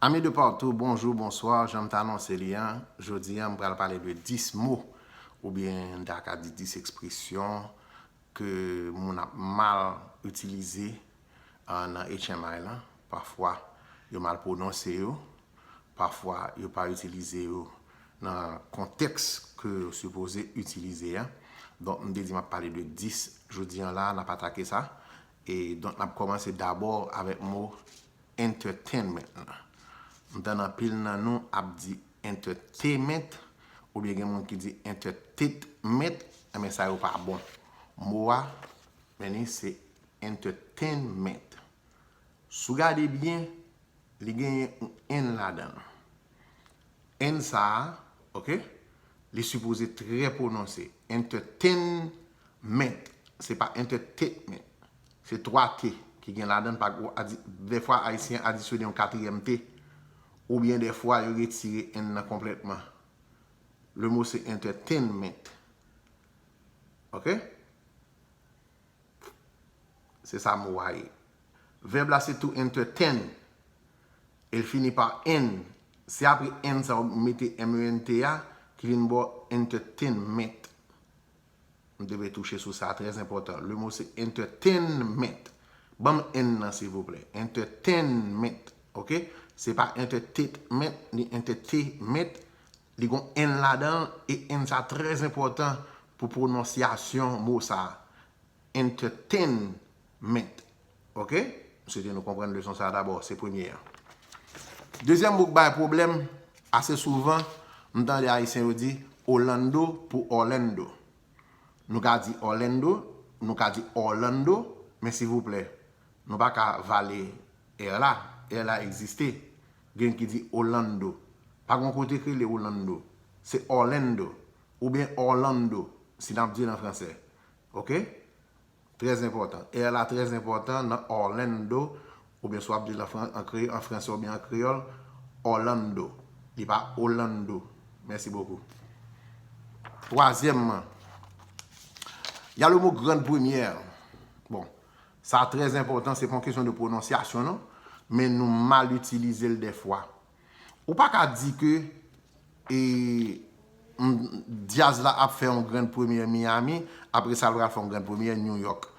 Amis de partout, bonjour, bonsoir, janm t anonse li an, jodi an m pral pale de 10 mots ou byen m ta ka di 10 expression ke moun ap mal itilize nan HMI lan, pafwa yo mal pwononse yo, pafwa yo pa itilize yo nan kontèks ke yo sipoze itilize an, donk m te di m ap pale de 10 jodi an la, n ap atake sa, E donk n ap kòmanse dabò avèk mo entertainment lan. M tann anpil nan nou ap di entertainment oubyen gen moun ki di entertaitment, enben sa yo pa bon. Mo a, men li, se entertainment. Si w gade byen, li genyen yon en ladan l. N sa a, ok, li sipoze trè pwononse. Entertainment, se pa entertainment. Se twa t ki gen ladan l, pa gwo adi. Dèfwa Ayisyen adisyone yon katriyèm t, oubyen dèfwa yo retire n nan konplètman. Lemo se entertainment. Ok? Se sa mo a ye. Vèb la se to entertain. El fini pa en. Se apre en sa ou mete MENT a ki vin ba w entertainment. M te vle touche sou sa, trè enpòtan. Le mo se entertainment. Ban m en nan silvouplè. Entertainment. Ok? Se pa entertainment ni entertainment. Li gon n ladan l e n sa trè enpòtan pou pwononsyasyon mo sa a, entertainment. Ok? M swete nou konprann leson sa a dabò, se premye an. Dezyèm mo k bay pwoblèm ase souvan, m tande Ayisyen yo di Olando pou Orlando. Nou ka di Orlando, nou ka di Orlando, men sivouplè, nou pa ka vale r la. R la egziste. Gen ki di Olando. Pa gon kote k rele Olando. Se Orlando. Ou byen Orlando. Si nap dil an fransè. Ok? Trè zenpòtan. R la trè zenpòtan nan Orlando. Ou byen si wap dil an fransè ou byen an kreyòl. Orlando. Li pa Olando. Mèsi bokou. Twazyèmman. Ya le mo grande première. Bon. Sa trè enpòtan, se pa yon kesyon de pwononsyasyon non, men nou mal itilize l dèfwa. Ou pa ka di ke e m djaz la ap fè yon grand premyè Miami, apre sa l pral fè yon grand premyè New York.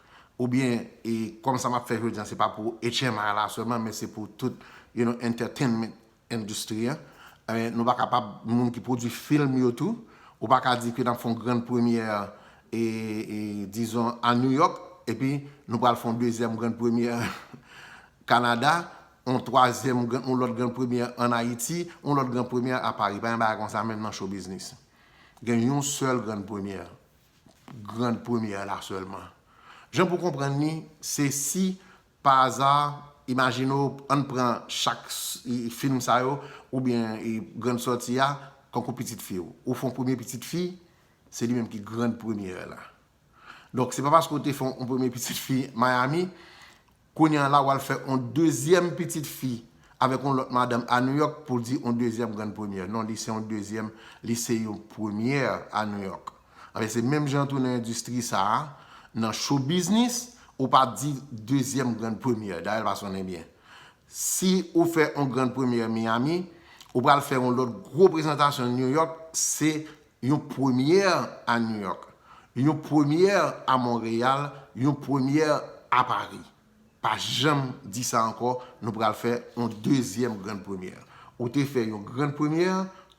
Oubyen e kòm sa m ap fè jodi an se pa pou HMI la sèlman men se pou tout you know entertainment endistri a, nou pa kapab moun ki pwodwi film yo tou, ou pa ka di ke n ap fè yon grand première e dizon a New York epi nou pral fè yon dezyèm grand première Canada, yon twazyèm yon lòt grand première an Ayiti, yon lòt grand première a Paris. Pa gen bagay konsa menm nan show business. Gen yon sèl grand première, grand première la sèlman. Jan pou konprann li, se si Pa aza, imajine w ann pran chak fim sa yo oubyen grann sòti a kankou pitit fi w. Ou fè yon premye pitit fi, se li menm ki grann premyè la. Donk, se pa paske w te fè yon premye pitit fi Miami, kounye an la w al fè yon dezyèm pitit fi avèk yon lòt madanm a Nouyòk pou w di yon dezyèm grann premyè. Non, li se yon dezyèm, li se yon premyè a Nouyòk. Anben se menm jan tou nan endistri sa a, nan show biznis, ou pa di dezyèm grand premyè, dayè l pa sonnen byen. Si ou fè yon grand premyè Miyami, ou pral fè yon lòt gwo prezantasyon New York, se yon premyè a New York, yon premyè a Monreyal, yon premyè a Paris. Pa janm di sa ankò, nou pral fè yon dezyèm grand premyè. Ou te fè yon grand premyè,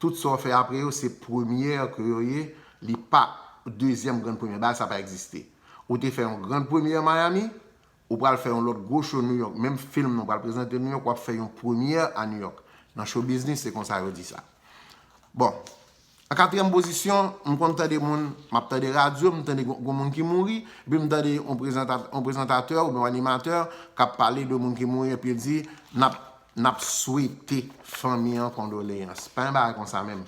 tout sa w fè apre yo se premyè ke yo ye, li pa dezyèm grand premyè. Bagay sa pa egziste. Ou te fè yon grand premyè Miami, ou pral fè yon lòt gwo show New York, menm film nan w pral prezante New York, w ap fè yon premyè a New York. Nan show biznis se konsa yo di sa. Bon. An katriyèm pozisyon, m konn tande moun, m ap tande radyo, m tande gen yon moun ki mouri, epi m tande yon prezantatè oubyen yon animatè k ap pale de moun ki mouri epi l di, n ap swete fanmi an kondoleyans. Pa gen bagay konsa menm.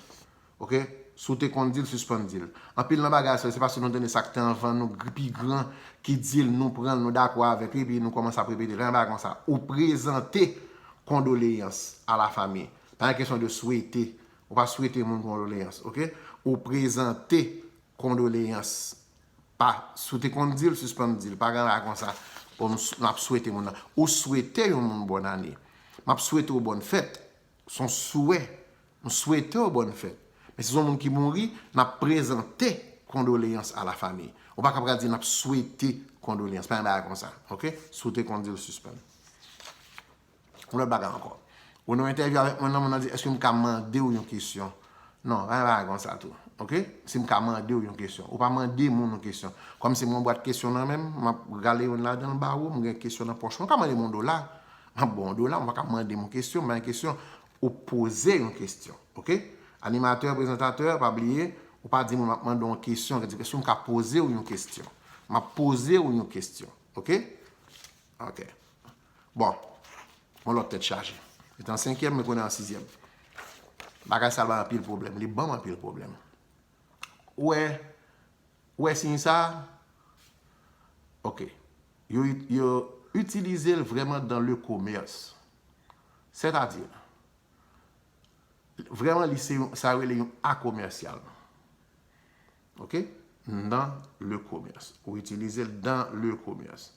Ok? Si w te konn di l, sispann di l. Anpil nan bagay sa yo, se paske nou tande sa k te anvan nou, pi gran ki di l, nou pran l, nou dakò avèk li, epi nou kòmanse ap repete l. Pa gen bagay konsa. Ou prezante kondoleyans a la fami. Pa gen kesyon de swete Ou pa swete moun kondoleyans ok. Ou prezante kondoleyans. Pa si w te konn di l sispann di l. Pa gen bagay konsa bon m ap swete moun nan. Ou swete yon moun bòn ane. M ap swete w bòn fèt. S on swè. M swete w bòn fèt. Men si s on moun ki mouri, n ap prezante kondoleyans a la famiy. Ou pa ka pral di n ap swete kondoleyans. Pa gen bagay konsa ok. Si w te konn di l sispann. Yon lòt bagay ankò. Ou nan entèvyou avèk moun nan, moun nan di, èske m ka mande ou yon kesyon? Non, pa gen bagay konsa tou. Ok? Si m ka mande ou yon kesyon. Ou pa mande moun yon kesyon. Kòm si m gen yon bwat kesyon nan men m, m ap rale youn ladan l ba ou, m gen kesyon nan pòch mwen. Ou ka mande m yon dola, m ap ba w yon dola. Ou pa ka mande m yon kesyon, m ba w yon kesyon. Ou poze yon kesyon. Ok? Animatè, prezantatè, pa bliye, ou pa di moun m ap mande w yon kesyon. Ou di, èske m ka poze ou yon kesyon? M ap poze ou yon kesyon. Ok? Ok. Bon, yon lòt tèt chaje. Li te an senkyèm, men kounye a an sizyèm. Bagay sa bay anpil pwoblèm. Li ban m anpil pwoblèm. Ou wè, ou wè siy sa a? Ok. Yo, yo itilize l vrèman dan le komès. Sètadi, vrèman li se yon, sa yo rele yon akomèsyal. Ok nan le komès. Ou itilize l dan le komès.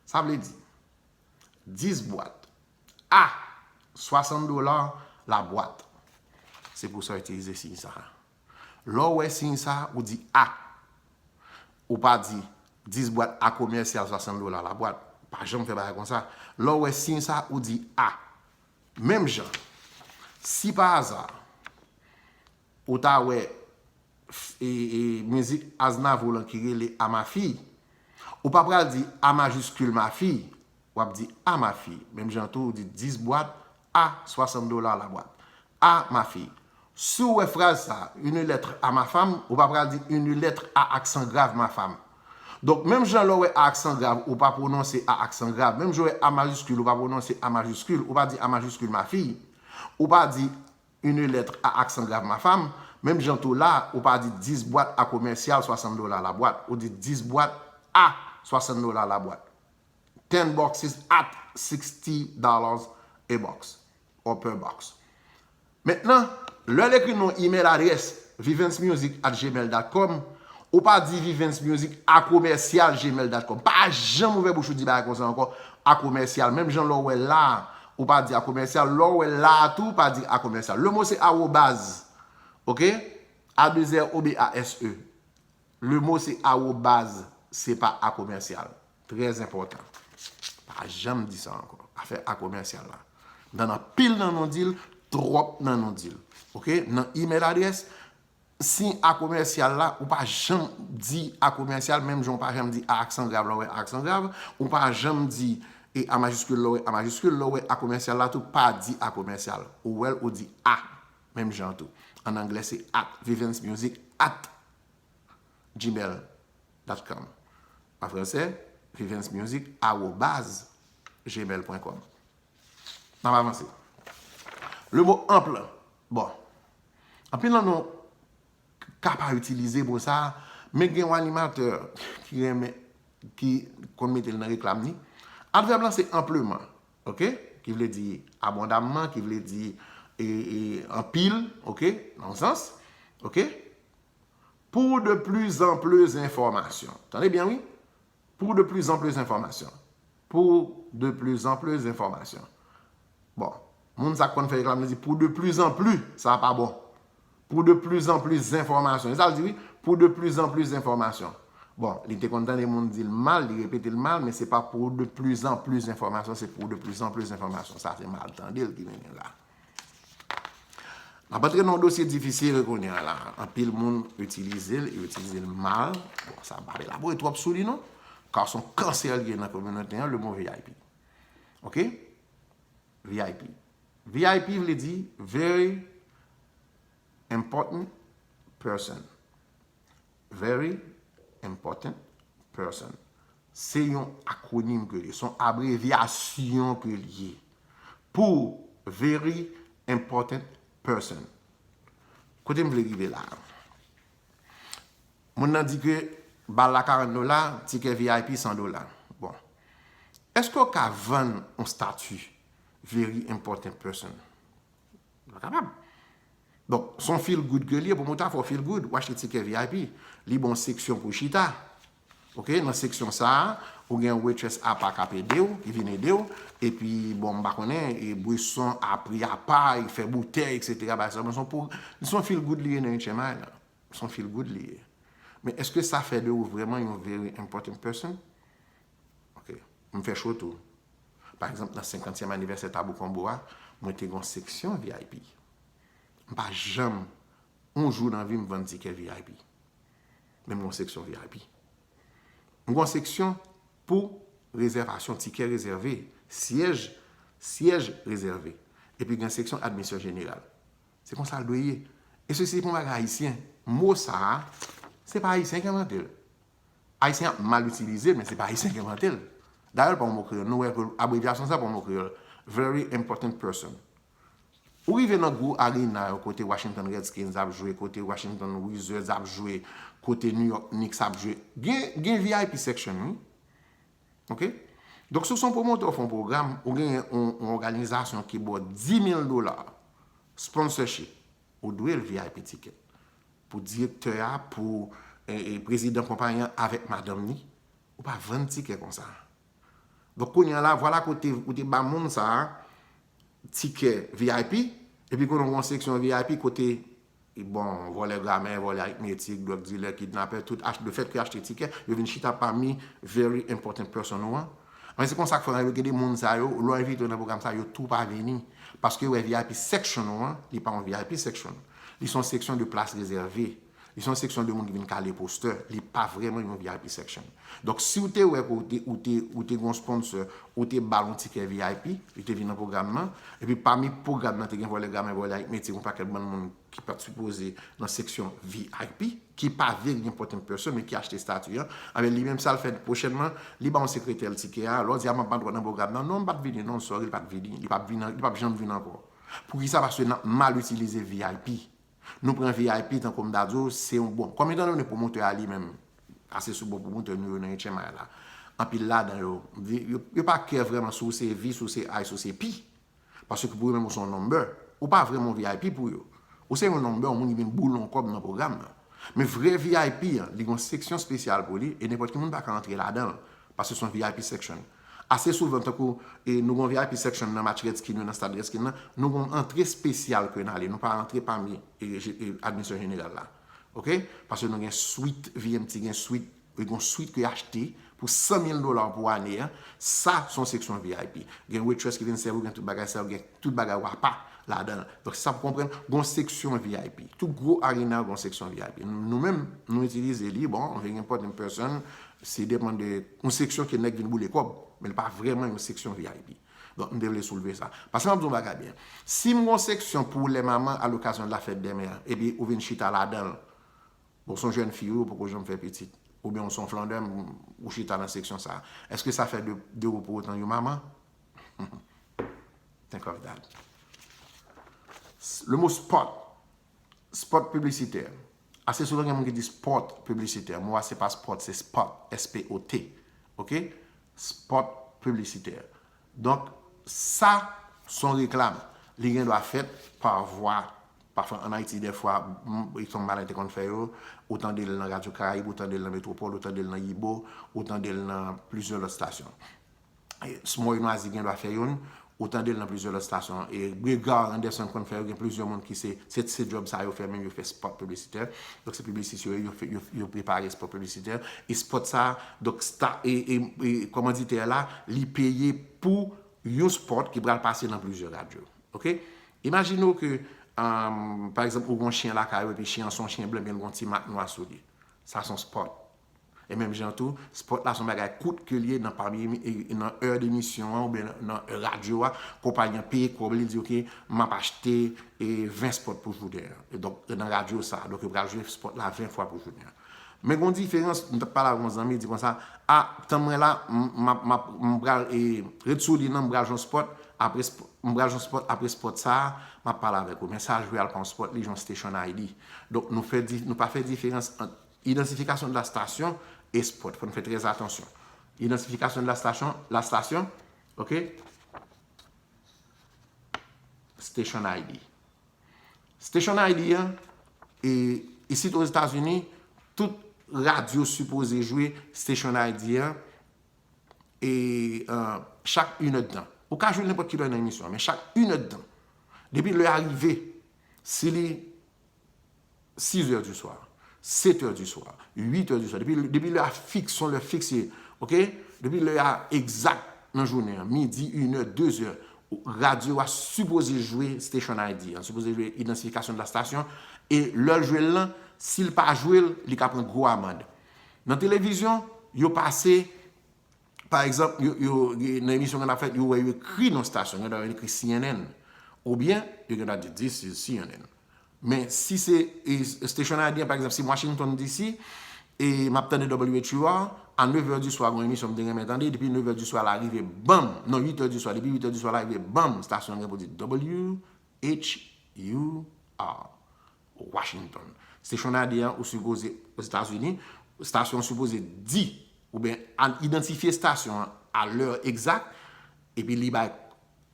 Sa vle di 10 bwat a 60 dola la bwat. Se pou sa itilize siy sa a. Lè ou wè siy sa a, ou di a. Ou pa di 10 bwat a komèsyal 60 dola la bwat. Pa janm fè bagay kon sa. Lè ou wè siy sa a, ou di a. Menm jan, si pa aza. Ou ta wè mizik Aznavour lan ki rele a ma fille. Ou pa pral di a majiskil ma fille. W ap di a ma fille. Menm jan tou ou di 10 bwat a 60 dola la bwat. A ma fille. Si w wè fraz sa a, une lettre à ma femme, ou pa pral di une lettre à aksan grav ma femme. Donk menm jan lè w wè a aksan grav ou pa pwononse a aksan grav, menm jan w wè a majiskil ou pa pwononse a majiskil, ou pa di a majiskil ma fille. Ou pa di Une lettre à accent grave ma femme, menm jan tou la ou pa di 10 bwat a komèsyal 60 dola la bwat, ou di 10 bwat a 60 dola la bwat. Ten boxes at sixty dollars a box or per box. Mentnan, lè l ekri nou imèl adrès vivencemusic at gmail dot com, ou pa di vivencemusic a komèsyal gmail dot com. Pa janm ouvè bouch ou di bagay konsa ankò, a komèsyal, menm jan lè w wè la a, Ou pa di a commercial. Lè w wè l la a tou, pa di a commercial. Le mot se arobase. Ok? A deux R O B A S E. Le mot se arobase. Se pa a commercial. Trè enpòtan. Pa janm di sa ankò. Afè a commercial la. Nan anpil nan nou di l, twòp nan nou di l. Ok? Nan email adresse, Siy a komèsyal la, ou pa janm di a komèsyal, menm jan ou pa janm di a aksan grav lè w wè a aksan grav, ou pa janm di e a majiskil lè w wè a majiskil, lè w wè a komèsyal la tou, pa di a komèsyal. Ou wè l, ou di a. Menm jan an tou. An anglè se at. Vivens Music at gmail dot com An fransè, Vivens Music arobase gmail pwen kòm. N ap avanse. Le mo anpl, bon, anpil nan nou ka pa itilize mo sa a, men gen yon animatè ki renmen, ki konn mete l nan reklam ni. Advèb lan se anpleman, ok, ki vle di abondamman, ki vle di anpil, ok, nan yon sans, ok. Pou de plis anpl enfòmasyon, tande byen wi, Pou de plis an plis enfòmasyon Pou de plis an plis enfòmasyon Bon Moun sa k konn fè reklam li di pou de plis an pli sa pa bon Pou de plis an plis zenfòmasyon e sa l di wi Pou de plis an plis enfòmasyon Bon li te konn tande moun di l mal li repete l mal men se pa pou de plis an plis enfòmasyon se pou de plis an plis enfòmasyon sa se mal tande l ki vin gen la. N ap antre nan yon dosye difisil kounye a la. Anpil moun itilize l, yo itilize l mal. Bon, sa m pa elabore twòp sou li non. Ka son kansè l ye nan kominote an, le mo vip. Ok? Vip. Vip vle di very important person. Very Important Person. Se yon akwonim ke li ye. Se yon abrevyasyon ke li ye. Pou Very Important Person. Kote m vle rive la a? Moun nan di ke bal la 40 dola, tikè vip 100 dola. Bon. Eske ou ka vann yon stati Very Important Person? Nou pa kapab. Bon, s on feel good ke l ye pou mwen ta fè w feel good. Ou achte tikè vip. Li ba w seksyon pou w chita. Ok, nan seksyon sa a, ou gen yon waitress apa k ap ede w, ki vin ede w. Epi, bon, m pa konnen, bweson a pri apa, yo fè boutèy, eksetera, bagay sa yo. Men s on pou, s on feel good li ye nan Ancient Mind la. S on feel good li ye. Men èske sa fè de ou vrèman yon very important person? Ok. M fè show tou. Pa egzanp nan 50 tièm anivèsè Tabou Combo a, mwen te gen yon seksyon vip. M pa janm yon jou nan vi m vann tikè vip. Men m gen yon seksyon vip. M gen yon seksyon pou rezèvasyon, tikè rezève, syèj, syèj rezève. Epi gen seksyon admisyon jeneral. Se konsa l dwe ye. E sesi se pa yon bagay ayisyen. Mo sa a, se pa ayisyen ki envante l. Ayisyen ap mal itilize, men se pa Ayisyen ki envante l. Dayè l pa yon mo kreyòl. Nou wè ke abrevyasyon sa pa yon mo kreyòl. Very important person. Ou rive nan gwo arena yo kote Washington Redskins ap jwe, kote Washington Wizards ap jwe, kote New York Knicks ap jwe. Gen vip section wi. Ok? Donk si w se yon pwomotè ou fè yon pwogram, ou gen yon òganizasyon ki ba w 10 mil dola sponsorship, ou dwe l vip ticket. Pou direktè a, pou prezidan konpayi an avèk madanm ni, ou pa vann tikè konsa. Donk kounye a la, vwala kote ou te ba moun sa a tikè vip, epi kounye ou gen yon seksyon vip kote, bon, vòlè gramè, vòlè aritmetik, dwòg dilè, kidnapè, tout achte, le fèt ke yo achte tikè, yo vin chita pami very important person ou an. Anben se konsa k fè gen de moun sa yo, lè w envite yo nan pwogram sa a, yo tou pa vini. Paske yo wè vip section ou an, li pa yon vip section. Li se yon seksyon de plas rezève. Li se yon seksyon de moun ki vin kale postè. Li pa vrèman yon vip section. Donk, si w te wè ke ou te ou te gen yon sponsor, ou te ba l yon tikè vip, li te vin nan pwogram nan. Epi pami pwogram nan te gen vòlè gramè, vòlè ak metye, yon pakèt bann moun ki pa t sipoze nan seksyon vip, ki pa vle gen pòt en pèsòn men ki achte estati an. Anben, li menm sa l fè pwochènman, li ba yon sekretè l tikè a. Lè w di a m ap ba dwòt nan pwogram nan, non m pa t vini non, sorry, li pa t vini. Li pa p vini, li pa p janm vini ankò. Poukisa paske nap mal itilize vip. Nou pran vip tankoum ta diw se yon bon. Kòm etan done pwomotè a li menm ase sou bon pwomotè nou yo nan etchenmay la. Anpil ladan yo yo pa kè vrèman si w se vi, si w se i, si w se pi. Paske pou yo menm ou se yon number. Ou pa vrèman yon vip pou yo. Ou se yon number yon moun ki vin boule yon kòb nan pwogram nan. Men vrè vip an li gen yon seksyon spesyal pou li e nenpòt ki moun pa ka antre ladanl. Paske se yon vip section. Ase souvan tankou nou gen yon vip section nan match Redskin yo nan stad Redskin nan, nou gen yon antre spesyal ke n ale, nou pa antre pami admisyon jeneral la. Ok, paske nou gen swit, VMT gen swit, gen yon swit ke yo achte pou 100 mil dola pou ane a, sa se yon seksyon vip. Gen waitress ki vin sèvi w, gen tout bagay sa yo, gen tout bagay ou apa ladan. Donk sa pou konprann, gen yon seksyon vip. Tout gwo arena gen yon seksyon vip. Nou menm, nou itilize li, bon, very important person, Se depan de yon seksyon ke nèg vin boule kòb, men li pa vrèman yon seksyon vip. Donk m te vle soulve sa. Paske map di w yon bagay byen. Si m gen yon seksyon pou lè manman a l'occasion de la fête des mères epi ou vin chita ladan l, bon w son jèn fi wi ou poko janm fè pitit, oubyen w son flandèm ou chita nan seksyon sa, èske sa fè de ou pou otan yon manman? Think of that. Le mot spot, spot piblisitè, Ase souvan gen moun ki di spot piblisitè. Mo a se pa spot, se spot, S-P-O-T. Ok? Spot piblisitè. Donk, sa son reklam. Li gen dwa fèt pa vwa, pafwa an Ayiti dèfwa, e son bagay te konn fè yo, ou tande l nan Radyo Karayib, ou tande l nan Metwopòl, ou tande l nan Yibo, ou tande l nan plizyè lòt stasyon. Smoy Nwazi gen dwa fè youn, ou tande l nan plizyè lòt stasyon. Gregoire Anderson konn fè yo, gen plizyè moun ki se, se djòb sa yo fè menm, yo fè spòt piblisitè. Donk se piblisist yo ye, yo prepare spòt piblisitè. E spòt sa a, donk sta, e, e, e kòmanditè a la, li peye pou yon spòt ki pral pase nan plizyè radyo. Ok? Imajine w ke, pa egzanp, ou gen yon chyen lakay ou epi chyen an se yon chyen blan men l gen yon ti mak nwa sou li. Sa se yon spòt. E menm jan tou, spot la son bagay kout ke li ye nan pami nan è de emisyon an oubyen nan è radyo a, konpayi an peye kòb li, li di ok map achte 20 spot pou jounen an. E donk nan radyo sa, donk yo pral jwe spot la 20 fwa pou jounen an. Men gon diferans, m tap pale avèk yon zanmi, li di konsa, a tan mwen la, map map m pral e ret sou lin nan m pral jwenn yon spot, apre m pral jwenn yon spot, apre spot sa, map pale avèk ou. Men sa jwe al pran yon spot li jwenn yon station ID. Donk nou fè nou pa fè diferans ant Idantifikasyon de la stasyon, espòt, fòn fè trè atansyon. Idantifikasyon de la stasyon, la stasyon, ok, station ID. Station ID an, e, isit o Etazini, tout radyo sipoze jwe station ID an, e, chak inèd tan. Ou ka jwe nenpòt kilè nan emisyon an, men chak inèd tan. Depi lè a rive, si li. 6 è di swa, 7 è di swa, 8 è di swa, depi lè a fiks, son lè fiks ye, ok, depi lè a egzak nan jounen an, midi, 1 è, 2 è, radyo a sipoze jwe station ID an, sipoze jwe idansifikasyon de la station, e lè l jwe l lan, si l pa jwe l, li ka pran gwo amand. Nan televizyon, yo pase, Pa egzanp, nan emisyon ki gen ap fèt, yo wè yo ekri non stasyon, gen tan yo ekri cnn, oubyen yo gen tan di this is cnn. Men, si se station ID an, pa egzanp, si Washington DC, e m ap tande WHUR, a nevè di swa gen yon emisyon m te renmen tande, depi nevè di swa la rive, banm, non uitè di swa, depi uitè di swa la rive, banm, stasyon an gen pou di WHUR. Washington. Station ID an ou sipoze Ozetazini, stasyon an sipoze di oubyen al idantifye stasyon an a lè egzak epi li bay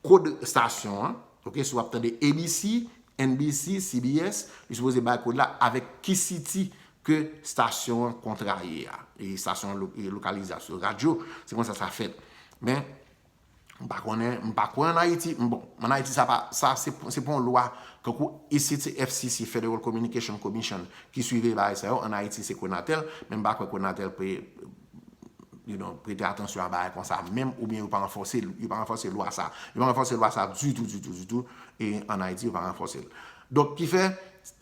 kod stasyon an, ok, si w ap tande ABC, NBC, CBS, li sipoze bay kod la avèk ki siti ke stasyon an kontraye a, e stasyon an lokalize a sou radyo, se konsa sa fèt. Men, M pa konnen, m pa kwè an Ayiti, m bon, an Ayiti sa pa, sa se pa yon lwa, tankou isit se FCC, Federal Communication Commission, ki siveye bagay sa yo, an Ayiti se Conatel, men m pa kwè Conatel pe, you know, prete atansyon a bagay konsa menm, oubyen yo pa anfòse, yo pa anfòse lwa sa, yo pa anfòse lwa sa ditou, ditou, ditou, e an Ayiti yo pa anfòse l. Donk ki fè,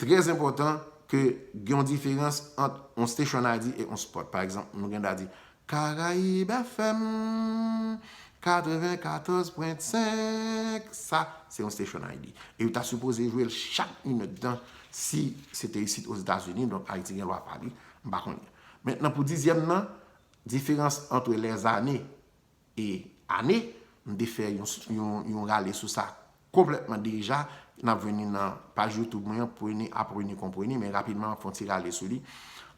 trè enpòtan ke gen yon diferans ant yon station ID e yon spot. Pa egzanp, nou gen dwa di, Caraïbes FM 94 pwen 5 Sa se yon station Haiti e yo ta sipoze jwe l chak minut tan si se te isit Ozetazini donk Haiti gen lwa pa li m pa konnen men nan pou dizyèm nan diferans antre lèzane e ane m te fè yon rale sou sa konplètman deja n ap vini nan paj youtube mwen an pwene apreni konpreni men rapidman m ap fè yon ti rale sou li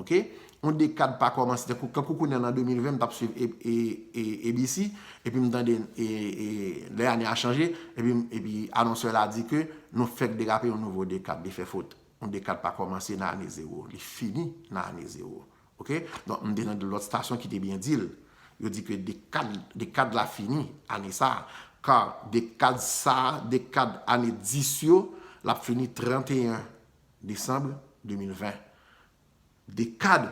Ok yon dekad pa komanse tankou kankou kounya nan 2020 m tap swiv ABC epi m tande lè ane a chanje epi anonsè la di ke nou fèk derape yon nouvo dekad li fè fot yon dekad pa komanse nan ane zewo li fini nan ane zewo ok donk m te tande lòt stasyon ki te byen di l yo di ke dekad dekad la fini ane sa ka dekad sa dekad ane 10 yo lap fini 31 Desanm 2020. Dekad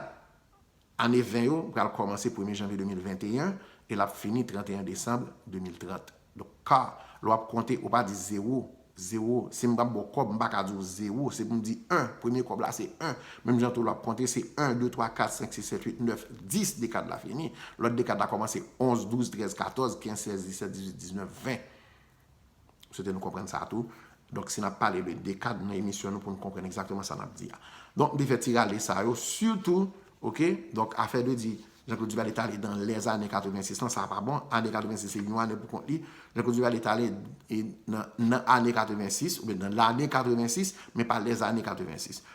ane 20 yo pral kòmanse premye janvye 2021 e l ap fini 31 desanm 2030. Donk k, lè w ap konte, ou pa di zewo, zewo, si m pa ba w kòb, m pa ka di w zewo, se pou m di en, premye kòb la se en. Menm jan tou lè w ap konte, se en, de, twa, kat, senk, sis, sèt, uit, nèf, dis, dekad la fini. Lòt dekad la kòmanse onz, douz, trèz, katòz, kenz, sèz, disèt, dizuit, diznèf, ven. M swete nou konprann sa tou. Donk si n ap pale de dekad nan emisyon nou pou nou konprann egzakteman sa n ap di a. Donk m te fè ti rale sa yo sitou ok. Donk afè de di Jean Claude Duvalier t ale dan lèzane 86 lan sa pa bon. Ane 86 se yon ane pou kont li. Jean Claude Duvalier t ale nan ane 86 oubyen nan lane 86 men pa lèzane 86.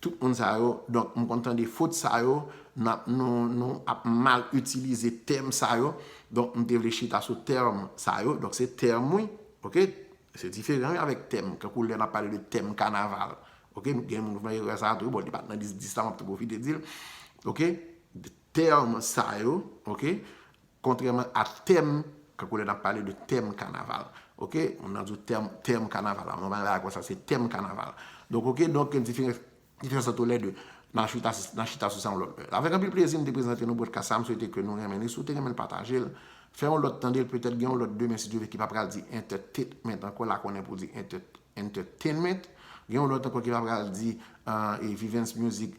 Tout moun sa yo donk m konn tande fot sa yo nan nou nou ap mal itilize tèm sa yo donk m te vle chita sou tèm sa yo donk se tèm wi ok se diferan wi avèk tèm tankou lè n ap pale de tèm kanaval ok gen moun k fè erè sa tou bon li pa t nan lis 10 la m ap tou pwofite di l ok. Tèm sa yo, ok, kontrèman a tèm, tankou lè n ap pale de tèm kanaval, ok, moun nan di w tèm, tèm kanaval, an nou pa nan bagay konsa, se tèm kanaval. Donk, ok, donk gen diferans, diferans ant lè de. N a chita, n a chita sou sa yon lòt lè. Avèk anpil plezi m te prezante nou podcast sa, m swete ke nou renmen li. Si w te renmen l pataje l, fè yon lòt tande l, petèt gen yon lòt demen si Dye vle ki pa pral di entertaitment ankò, la konnen pou di entertainment. Gen yon lòt ankò ki pa pral di Vivens Music